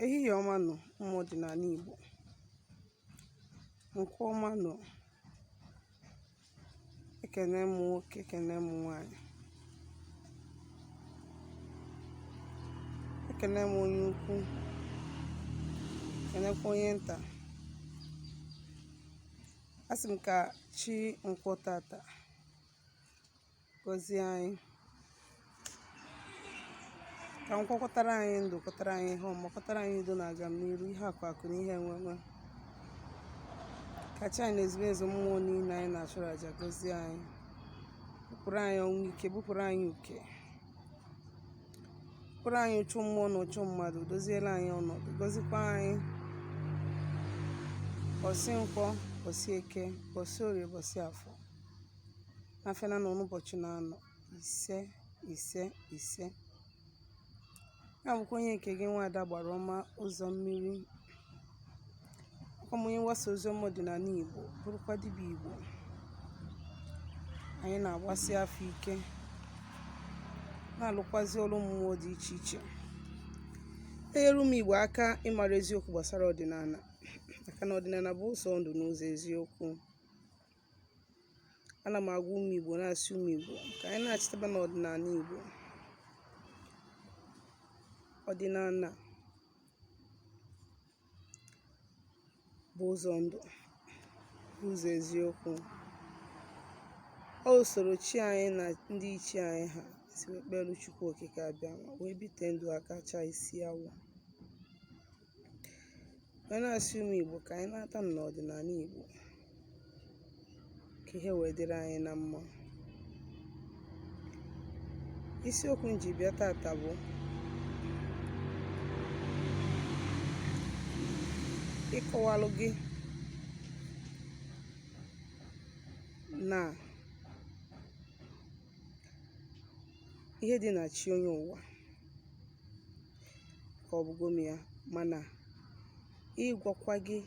Ehihie ọma nụ ụmụ ọdịnala Igbo. Nkwọ ọma nụ. Ekene m nwoke, ekene m nwaanyị. Ekene m onye ukwu, ekenekwa onye nta. Asị m ka chi nkwọ tata. gọzie anyị ka nkwọ kwọtara anyị ndụ kwọtara anyị ihe ọma kwọtara anyị udo na agamniru ihe akụ akụ na ihe enwe enwe ka chi anyị na ezumezu mmụọ niile anyị na-achụrụ aja gọzie anyị bupụrụ anyị ọnwụ ike bupụrụ anyị uke bupụrụ anyị ụchụ mmụọ na ụchụ mmadụ doziela anyị ọnọdụ gọzikwa anyị bọsị nkwọ bọsị eke bọsị orie bọsị afọ afịa naanọ na ụbọchị naanọ ise ise ise ya bụkwa onye nke gị nwaada agbara ọma ụzọ mmiri ọkwa m onye mgbasa ozi ọma ọdịnala igbo bụrụkwa dibịa igbo anyị na-agbasi afa ike na-alụkwazi ọrụ mmụọ dị iche iche enyere ụmụ igbo aka ịmara eziokwu gbasara ọdịnala maka na ọdịnala bụ ụzọ ndụ na ụzọ eziokwu ana m agwa ụmụ Igbo na-asị ụmụ Igbo ka anyị nachitaba n'ọdịnala Igbo ọdịnala bụ ụzọ ndụ bụ ụzọ eziokwu ọ usoro chi anyị na ndị ichie anyị ha si wee kpere Chukwu Okike Abịama wee bite ndụ aka chaa isi awọ Wee na-asị ụmụ Igbo ka anyị nata na ọdịnala Igbo ka ihe wee dịrị anyị na mma. Isiokwu m ji bịa tata bụ ịkọwalụ gị na ihe dị na chi onye ụwa. ka ọ bụgo m ya mana ịgwakwa gị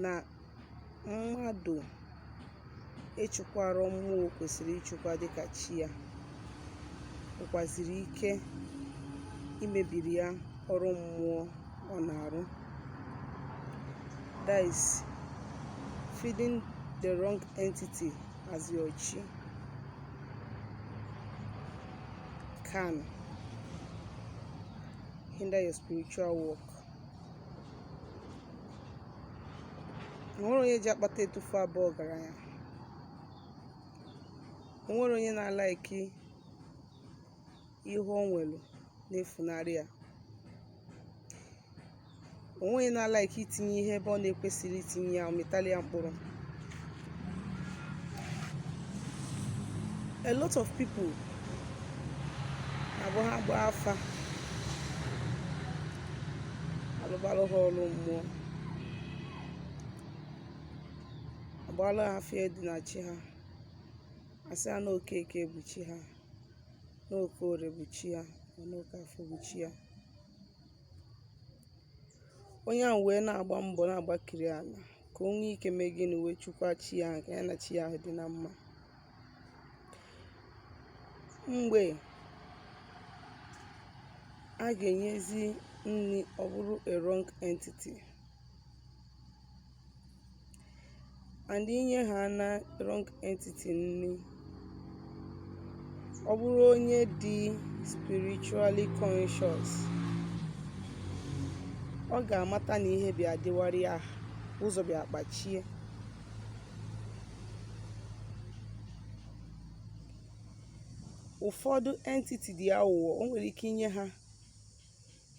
na mmadụ ịchụkwara mmụọ kwesịrị ịchụkwa dịka chi ya nwekwaziri ike imebiri ya ọrụ mmụọ ọ na-arụ that is feeding the wrong entity as your chi can hinder your spiritual work onwerọ onye ji akpata etufu abụ ọgaranya onwerọ onye na-alaiki ihe o nwelu na-efunarị ya onweghị onye na-alaiki itinye ihe ebe ọ na-ekwesịrọ itinye ya ọ mịtalụ ya mkpụrụ a lot of people na-abụ ha gbaa afa alụbalụ ha ọrụ mmụọ agbaalụ ha afịa dị na chi ha asị ha na okeke bụ chi ha na okorie bụ chi ha na oke afọ bụ chi ha onye ahụ wee na-agba mbọ na-agbakiri ala ka o nwee ike mee gịnị wee chukwa chi ya ka ya na chi ya dị na mma mgbe a ga-enyezi nri ọ bụrụ a wrong entity and inye ha na wrong entity nri ọ bụrụ onye dị spiritually conscious ọ ga-amata na ihe bịa dịwarị ya ụzọ bịa kpachie ụfọdụ entity dị aghụghọ o nwere ike inye ha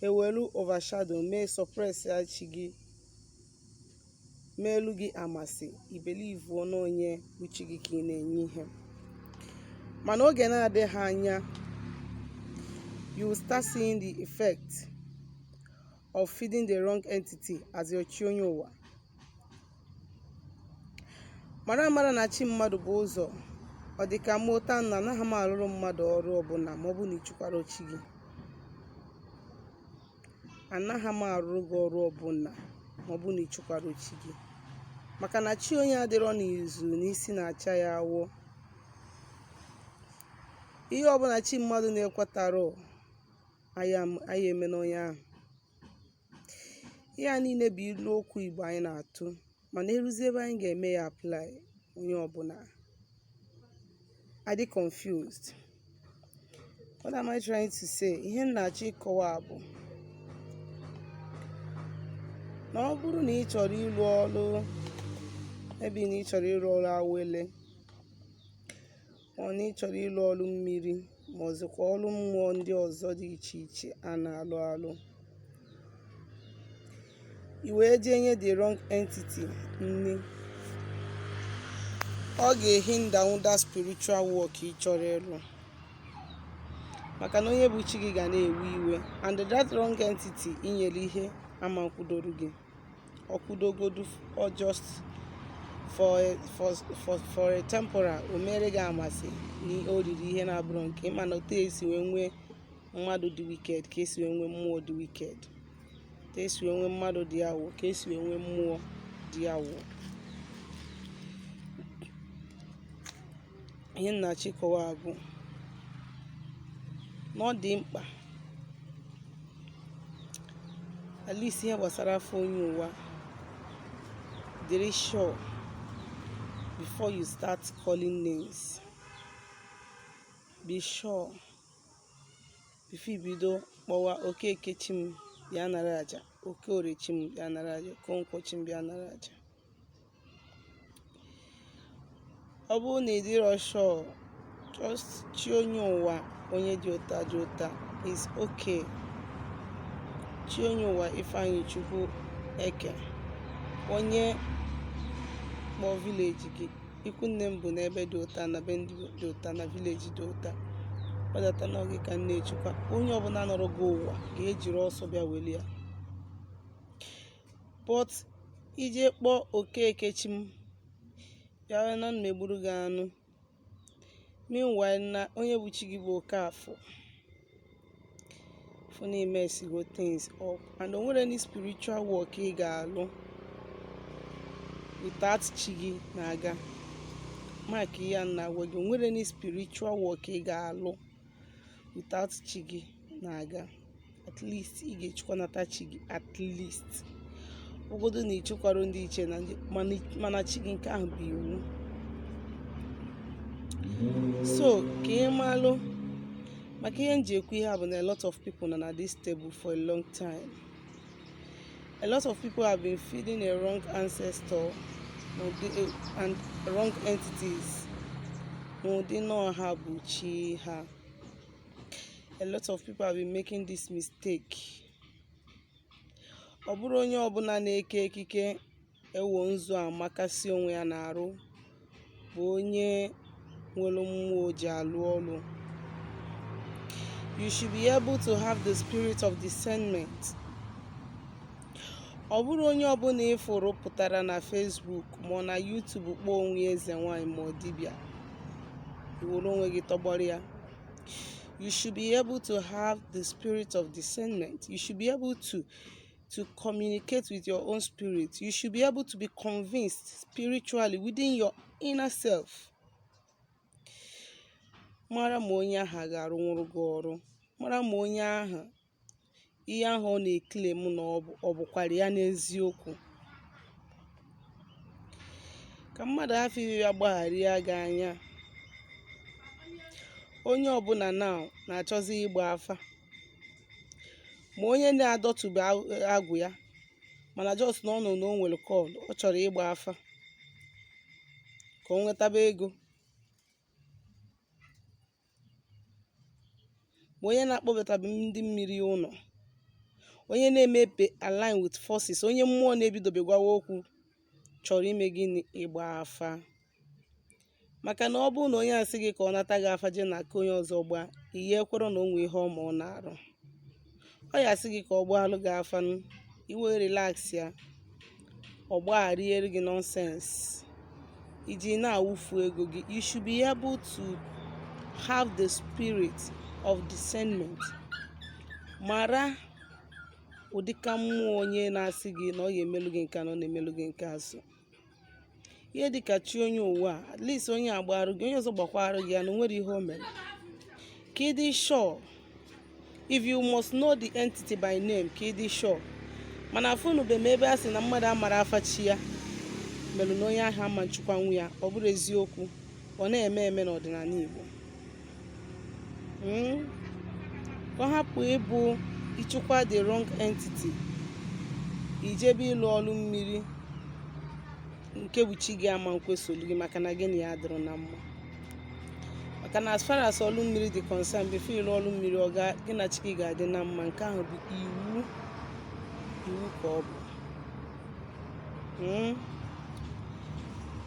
ha ewelu overshadow mee suppress ya chi gị meelu gị amasị ị believuo n'onye bụ chi gị ka ị na-enye ihe mana oge na-adịghị anya you will start seeing the effect of feeding the wrong entity as your chi onye ụwa mara amara na chi mmadụ bụ ụzọ ọ dị ka mụ ụta na anaghị m arụrụ mmadụ ọrụ ọbụla ma ọ bụ na ichukwara chi gị anaghị m arụrụ gị ọrụ ọbụla ma ọ bụ na ichukwara chi gị maka na chi onye adịrọ n'izu n'isi na-acha ya awọ ihe ọbụla chi mmadụ na-ekwetarọ anaghị eme n'onye ahụ ihe a niile bụ ilu okwu igbo anyị na-atụ mana eruzie ebe anyị ga-eme ya apply onye ọbụla adị confused what am i trying to say ihe m na-achọ ịkọwa bụ na ọ bụrụ na ị chọrọ ịrụ ọrụ ebe na ị chọrọ ịrụ ọrụ awele ọ na ị chọrọ ịlụ ọrụ mmiri ma ọ zikwa ọrụ mmụọ ndị ọzọ dị iche iche a na-alụ alụ i wee jee nye the wrong entity nne ọ ga-ehinder nwụ that spiritual work ị chọrọ ịlụ maka na onye bụ chi gị ga na-ewe iwe and that wrong entity i nyere ihe ama akwụdoro gị ọ kwụdogodu ọ just for a, for, for, for a temporal o mere gị a ma sị na o riri ihe na-abụrọ nke ya mana otu esi wee nwee mmadụ dị wicked ka esi wee nwee mmụọ dị wicked ka esi wee nwee mmadụ dị awụ ka esi wee nwee mmụọ dị awụ ihe m na-achọ ịkọwa bụ na ọ dị mkpa at least ihe gbasara afa onye ụwa dịrị sure before you start calling names be sure before i bido kpọwa okeke chi m bịa nara aja okeorie chi m bịa nara aja okonkwo chi m bịa nara aja ọ bụrụ na ị dịrọ sure just chi onye ụwa onye dị otu a dị otu a is okay chi onye ụwa ifeanyịchukwu eke onye kpọọ village gị ikwu nne m bụ n'ebe dị otu a na be ndị dị otu a na village dị otu a gbadata na ọ gị ka m na-echukwa onye ọbụla nọrọ gị ụwa ga-ejiri ọsọ bịa weli ya but i jee kpọọ okeke chi m bịawa na m egburu gị anụ meanwhile na onye bụ chi gị bụ Okafor fụ na i messigo things up and o nwerọ any spiritual work ị ga-alụ without chi gị na-aga mark ihe a m na-agwa gị o nwerọ any spiritual work ị ga-alụ without chi gị na-aga at least ị ga-echukwanata chi gị at least ọ godu na ị chukwarọ ndị ichie mana chi gị nke ahụ bụ iwu so ka ị malụ maka ihe m ji ekwu ihe a bụ na a lot of people nọ na this table for a long time A lot of people have been feeding a wrong ancestor and wrong entities n'ụdị na ọ ha bụ chi ha. A lot of people have been making this mistake. Ọ bụrọ onye ọbụla na-eke ekike Ewo nzu amakasị onwe ya n'arụ bụ onye nwere mmụọ o ji alụ ọrụ. You should be able to have the spirit of discernment. Ọ bụrụ onye ọbụla ị fụrụ pụtara na Facebook ma ọ na YouTube kpọọ onwe ya eze nwaanyị ma ọ dibịa, i were onwe gị tọgbọrọ ya. You should be able to have the spirit of discernment. You should be able to to communicate with your own spirit. You should be able to be convinced spiritually within your inner self. Mara ma onye ahụ a ga-arụnwụrụ gị ọrụ. Mara ma onye ahụ ihe ahụ ọ na-eclaim na ọ bụkwara ya n'eziokwu. Ka mmadụ hafụ ịbịa gbagharịa gị anya. Onye ọbụla now na-achọzi ịgba afa. ma onye na-adọtube agwụ ya mana just na ọ nụ na o nwere call ọ chọrọ ịgba afa ka o nwetaba ego ma onye na-akpọbatabe ndị mmiri ụlọ onye na-emepe align with forces onye mmụọ na-ebidobe gwawa okwu chọrọ ime gịnị ịgba afa maka na ọ bụrụ na onye asị gị ka ọ nata gị afa jee na aka onye ọzọ gbaa ihe ekwere na o nwe ihe ọma ọ na-arụ ọ ya asị gị ka ọ gbaalụ gị afa i wee relax ya ọ gbagharịere gị nonsense i ji na-awụfu ego gị you should be able to have the spirit of discernment mara ụdịka mmụọ onye na-asị gị na ọ ga-emelu gị nke na ọ na-emelu gị nke azụ ihe dịka chi onye ụwa at least onye agbarụ gị onye ọzọ gbakwarụ gị ya na o nwere ihe o mere ka ị dị sure if you must know the entity by name ka ị dị sure mana afụnube m ebe a sị na mmadụ amara afa chi ya mere na onye ahụ ama nchụkwanwu ya ọ bụrụ eziokwu ọ na-eme eme n'ọdịnala Igbo hmm? ka ọ hapụ ịbụ ị chụkwa the wrong entity i jebe ịlụ ọlụ mmiri nke bụ chi gị ama nkwesolu gị maka na gị na ya adịrọ na mma maka na as far as ọlụ mmiri dị concern before ị lụọ ọlụ mmiri ọ gaa gị na chi gị ga-adị na mma nke ahụ bụ iwu iwu ka ọ bụ hmm?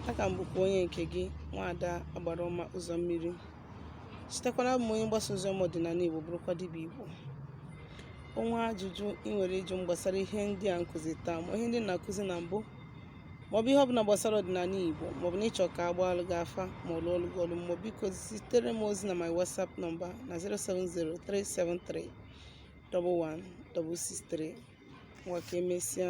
a ka m bụkwa onye nke gị nwaada agbara ọma ụzọ mmiri chetakwa na abụ m onye mgbasa ozi ọma ọdịnala igbo bụrụkwa dibịa igbo o nwee ajụjụ ị nwere ịjụ m gbasara ihe ndị a m kụzi taa ma ihe ndị na-akụzi na mbụ maọbụ ihe ọbụla gbasara ọdịnala igbo maọbụ na ị chọ ka a gbaalụ gị afa ma ọ lụọlụ gị ọlụ maọbụ biko zitere m ozi na my whatsapp number na 07037311663 ngwa ka emesịa